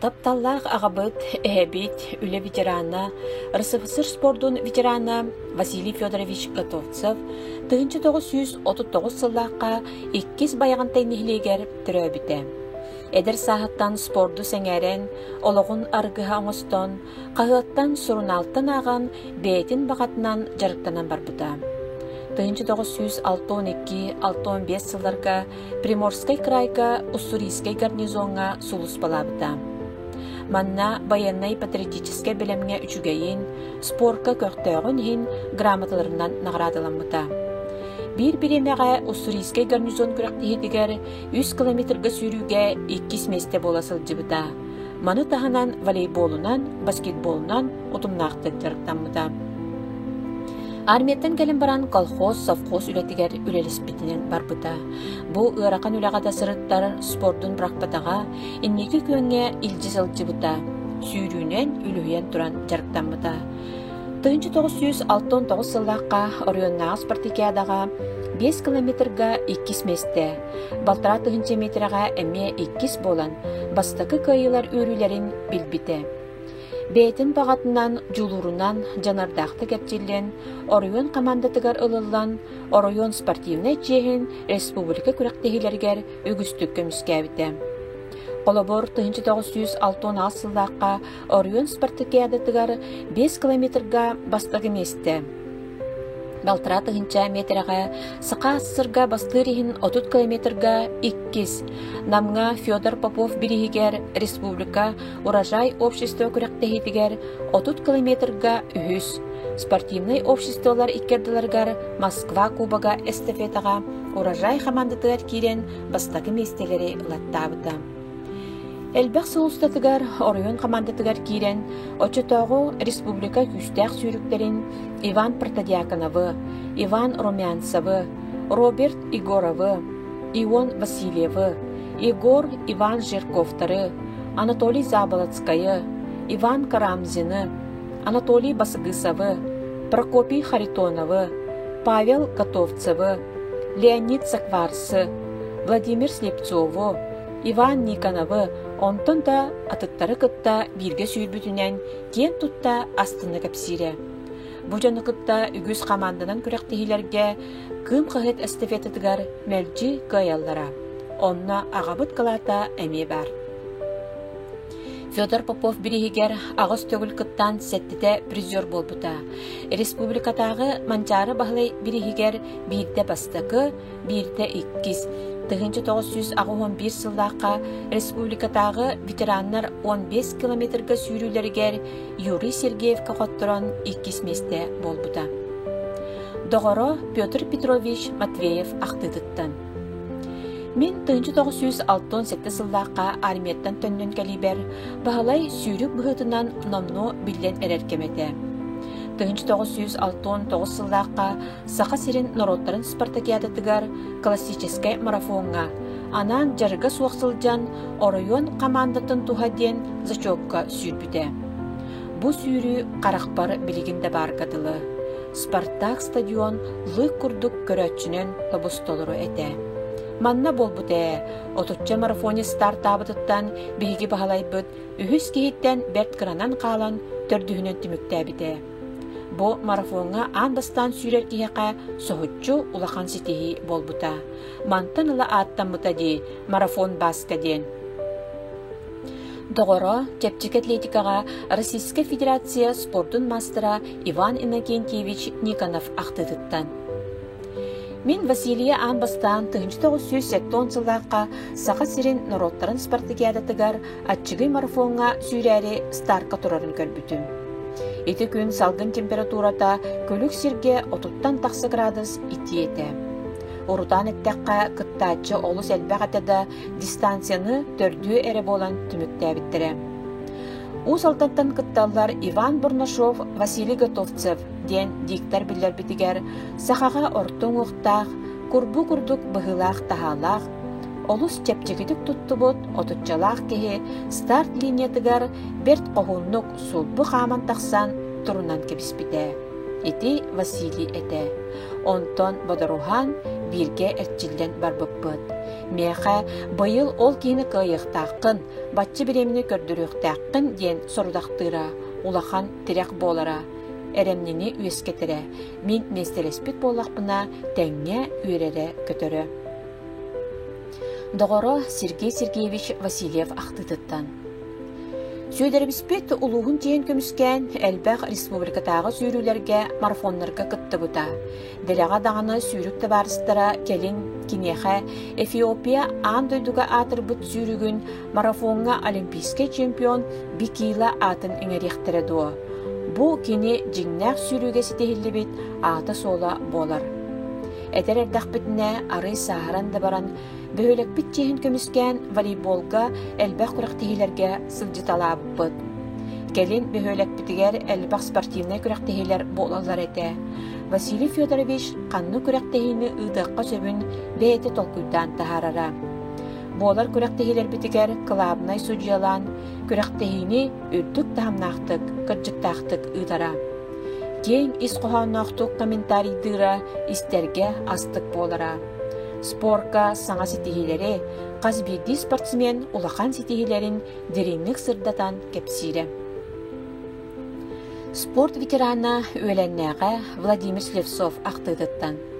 Тапталлаах аҕабыт, эһэбит, үлэ ветерана, РСФСР спордун ветерана Василий Федорович Готовцев тыһыынча тоҕус сүүс отут тоҕус сыллаахха иккис байаҕантай нэһилиэгэр төрөөбүтэ. Эдэр сааһыттан спорду сэҥээрэн, олоҕун аргыһа оҥостон, Хаһыаттан, сурунаалтан ааҕан, бэйэтин баҕатынан дьарыктанан барбыта. тыһыынча тоҕус сүүс алта он икки алта он биэс сылларга Приморскай кыраайга Уссурийскай гарнизоҥҥа сулууспалаабыта. Манна байыаннай-патриотическай бэлэмҥэ үчүгэйин, спорка көхтөөҕүн иһин грамоталарынан наҕараадаламмыта. Биир бириэмэҕэ Уссурийскай гарнизон күрэхтэһиитигэр үс километрга сүүрүүгэ иккис миэстэ буола сылдьыбыта. Маны таһынан волейболунан, баскетболунан утумнаахтык дьарыктаммыта. Армияттан кэлэн баран колхоз, совхоз үлэтигэр үлэлэспитинэн барбыта. Бу ыарахан үлэҕэ да сырыттар спордун бырахпатаҕа, инники күөҥҥэ илдьи сылдьыбыта. Сүүрүүнэн үлүһүйэн туран дьарыктаммыта. Тыһынча тоҕус сүүс алта он тоҕус сыллаахха Ореннааҕы спартакиадаҕа 5 километрга иккис миэстэ, Балтараа тыһыынча миэтэрэҕэ эмиэ иккис буолан, бастакы кыайыылар үөрүүлэрин билбитэ. Бэйэтин баҕатынан, дьулуурунан дьаныардаахтык эрчиллэн, оройуон хамаандатыгар ылыллан, оройуон спортивнай чиэһин республика күрэхтэһиилэригэр үгүстүк көмүскээбитэ. Холобур, тыһыынча тоҕус сүүс алтыанаҕас сыллаахха Оройуон спартакиадатыгар биэс километрга бастакы миэстэ, балтараа тыһыынча миэтэрэҕэ саха сырга бастыыр иһин отут километрга иккис, Намҥа Федор Попов бирииһигэр республика Урожай общество күрэхтэһиитигэр отут километрга үһүс, спортивнай обществолар иккэрдэлэригэр Москва кубога эстафетаҕа Урожай хамаандатыгар киирэн бастакы миэстэлэри ылаттаабыта. Элбэх сыл устатыгар оройуон хамаандатыгар киирэн, оччотооҕу республика күүстээх сүүрүктэрин Иван Протодьяконовы, Иван Румянцевы, Роберт Егоровы, Ион Васильевы, Егор Иван Жирковтары, Анатолий Заболоцкайы, Иван Карамзины, Анатолий Басыгысовы, Прокопий Харитоновы, Павел Готовцевы, Леонид Сакварсы, Владимир Слепцову, Иван Никоновы, онтон да атыттары кытта бииргэ сүүрбүтүнэн киэн тутта астына кэпсиирэ. Бу дьону кытта үгүс хамаанданан күрэхтиһиилэргэ Кыым хаһыат эстафетатыгар мэлдьи кыайаллара. Онно аҕабыт кылаата эмиэ баар. Федор Попов бириһигэр аҕыс төгүл кыттаан сэттитэ призер буолбута. Республикатааҕы Манчаары Баһылай бириһигэр биирдэ бастакы, биирдэ иккис, тыһыынча тоҕус сүүс аҕыс уон биир сыллаахха республикатааҕы ветераннар он бес километрга сүүрүүлэригэр Юрий Сергеевка хотторон иккис миэстэ буолбута. Доҕоро Петр Петрович Матвеев ахтыытыттан Мин тыһыынча тоҕус сүүс алтан сэттэ сыллаахха армияттан төннөн кэлибэр Баһылай сүүрүк быһыытынан номну биллэн эрэр кэм этэ. Тыһыынча тоҕус сүүс алтан тоҕус сыллаахха Саха сирин норуоттарын спартакиадатыгар классическай марафоҥҥа анаан дьарыга суох сылдьан оройуон хамаандатын туһа диэн зачетка сүүрбүтэ. Бу сүүрүү харахпар билигин да баарга дылы. Спартак стадион лык курдук көрөөччүнэн тобустолору этэ. Манна буолбут ээ, отучча марафонец стартаабытыттан биһиги баһалайбыт үһүс киһиттэн бэрт кыранан хаалан төрдүһүнэн түмүктээбитэ. Бу марафоҥҥа аан бастаан сүүрэр киһиэхэ соһуччу улахан ситиһии буолбута. Мантан ыла ааттаммыта дии марафон Баска диэн. Доҕоро, чэпчэки атлетикаҕа Российская Федерация спордун маастара Иван Иннокентьевич Никонов ахтыытыттан. Мин Василия аан бастаан 1970 сыллаахха Саха сирин норуоттарын спартакиадатыгар Аччыгый марафоҥҥа сүүрээри стартка турарын көрбүтүм. Ити күн салгын температурата күлүк сиргэ отуттан тахса градус итии этэ. Урутаан эттэххэ, кыттааччы олус элбэх этэ да, дистанцияны төрдүө эрэ буолан түмүктээбиттэрэ. Уус Алдантан кытталлар Иван Бурнашов, Василий Готовцев диэн диктор биллэрбитигэр сахаҕа орто уҥуохтаах, курбу курдук быһыылаах-таһаалаах Олус чэпчэкитик туттубут отуччалаах киһи старт линиятыгар бэрт хоһууннук сулбу хааман тахсан турунан кэбиспитэ. Ити Василий этэ. Онтон бодоруһаан бииргэ эрчиллэн барбыппыт. Миэхэ быйыл ол киһини кыайыахтааххын, бачча бириэмини көрдөрүөхтээххин диэн сорудахтыыра, улахан тирэх буолара, эрэмнини үөскэтэрэ, Мин миэстэлэспит буоллахпына, тэҥҥэ үөрэрэ-көтөрө. Доҕоро Сергей Сергеевич Васильев ахтыытыттан Сүөдэрэбиспит улууһун тиһэн көмүскээн элбэх республикатааҕы сүүрүүлэргэ марафоннарга кыттыбыта. Дэлэҕэ даҕаны сүүрүк табаарыстара кэлин киниэхэ Эфиопия аан дойдуга аатырбыт сүүрүгүн марафоҥҥа олимпийскай чемпион Бикила аатын иҥэриэхтэрэ дуо? Бу кини дьиҥнээх сүүрүүгэ ситиһиллибит аата-суола буолар. Этэр эрдэхпитинэ, арыый сааһыран да баран, бөһүөлэкпит чиэһин көмүскээн волейболга элбэх күрэхтэһиилэргэ сылдьыталаабыппыт. Кэлин бөһүөлэкпитигэр элбэх спортивнай күрэхтэһиилэр буолаллар этэ. Василий Федорович ханнык күрэхтэһиини ыытыахха сөбүн бэйэтэ толкуйдаан таһаарара. буолар күрэхтэһиилэрбитигэр кылаабынай судьуйалаан күрэхтэһиини үрдүк таһымнаахтык, кырдьыктаахтык ыытара. киэҥ ис хоһоонноохтук комментарийдыыра истэргэ астык буолара. Спорка саҥа ситиһиилэри, хас биирдии спортсмен улахан ситиһиилэрин дириҥник сырдатан кэпсиирэ. Спорт ветерана үөлэннээҕэ Владимир Слепцов ахтыытыттан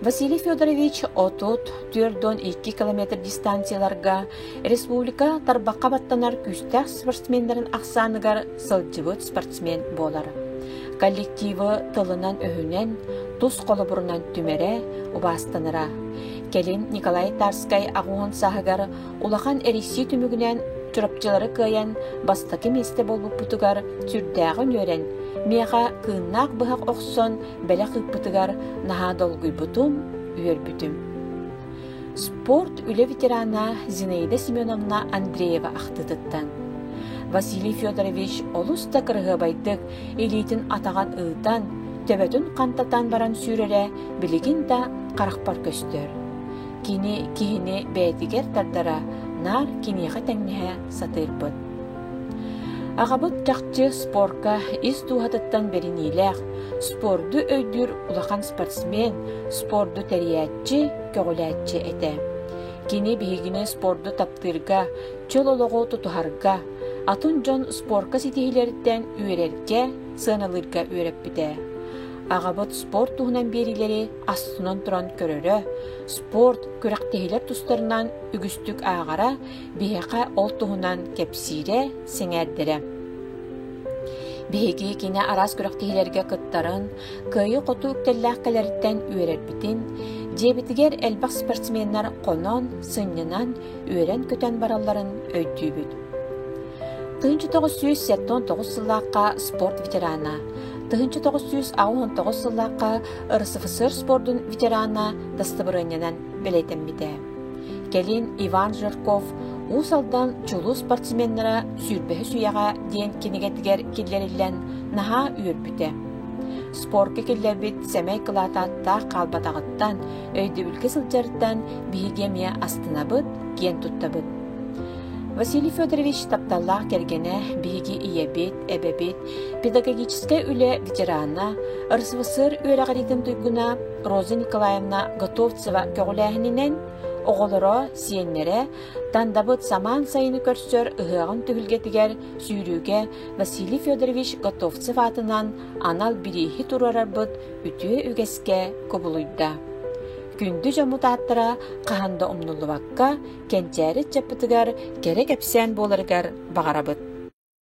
Василий Федорович отут түөрт уон икки километр дистанцияларга республика тарбахха баттанар күүстээх спортсменнарын ахсааныгар сылдьыбыт спортсмен буолар. Коллективы тылынан-өһүнэн, тус холобурунан түмэрэ, убаастанара. Кэлин Николай Тарскай аҕуһун саһыгар Улахан эрийсии түмүгүнэн Чурапчылары кыайан бастакы миэстэ буолбуппутугар сүрдээҕин үөрэн, миэхэ кыыннаах быһах охсон бэлэх ыыппытыгар наһаа долгуйбутум, үөрбүтүм. Спорт үлэ ветерана Зинаида Семеновна Андреева ахтыытыттан Василий Федорович олус да кыраһыабайдык илиитин атаҕын ыытан, төбөтүн хантатан баран сүүрэрэ билигин да харахпар көстөр. Кини киһини бэйэтигэр тардара наар киниэхэ тэҥнэһэ сатыырбыт. Аҕабыт чахчы спорка ис дууһатыттан бэриниилээх, спорду өйдүүр улахан спортсмен, спорду тэрийээччи, көҕүлээччи этэ. Кини биһигини спорду таптыырга, чөл олоҕу тутуһарга, атын дьон спорка ситиһиилэриттэн үөрэргэ, сыаналыырга үөрэппитэ. Аҕабыт спорт туһунан биэриилэри Астынан туран көрөрө, спорт, күрэхтэһиилэр тустарынан үгүстүк ааҕара, биһиэхэ ол туһунан кэпсиирэ, сэҥээрдэрэ. Биһиги кини араас күрэхтэһиилэргэ кыттарын, кыайыы-хотуу үктэллээх кэлэриттэн үөрэрбитин, дьиэбитигэр элбэх спортсменнар хонон, сынньанан, үөрэн-көтөн баралларын өйдүүбүт. Тыһынча тоҕус сүүс сэтэн тоҕус сыллаахха спорт ветерана, тыһынча тоҕус сүүс аҕыс сыллаахха РСФСР спордун ветерана дастабырыанньанан бэлиэтэммитэ. Кэлин Иван Жирков Уус Алдан чулуу спортсменнара сүүрбэһис үйэҕэ диэн кинигэтигэр киллэриллэн наһаа үөрбүтэ. Спорка киллэрбит сэмэй кылаат ааттаах хаалбатаҕыттан, өйдөбүлгэ сылдьарыттан биһиги эмиэ астынабыт, киэн туттабыт. Василий Федорович тапталлаах кэргэнэ биһиги ийэбит, Эбэбит, педагогическай үлэ ветерана, РСВСР үөрэҕириитин туйгуна Роза Николаевна Готовцева көҕүлээһининэн оҕолоро, сиэннэрэ Тандабыт самаан сайыны көрсөр ыһыаҕын түһүлгэтигэр сүүрүүгэ Василий Федорович Готовцев аатынан анал бирииһи туруорарбыт үтүө үгэскэ кубулуйда. Күндү дьоммут ааттара хаһан да умнуллубакка, кэнчээри чаппытыгар кэрэ кэпсээн буоларыгар баҕарабыт.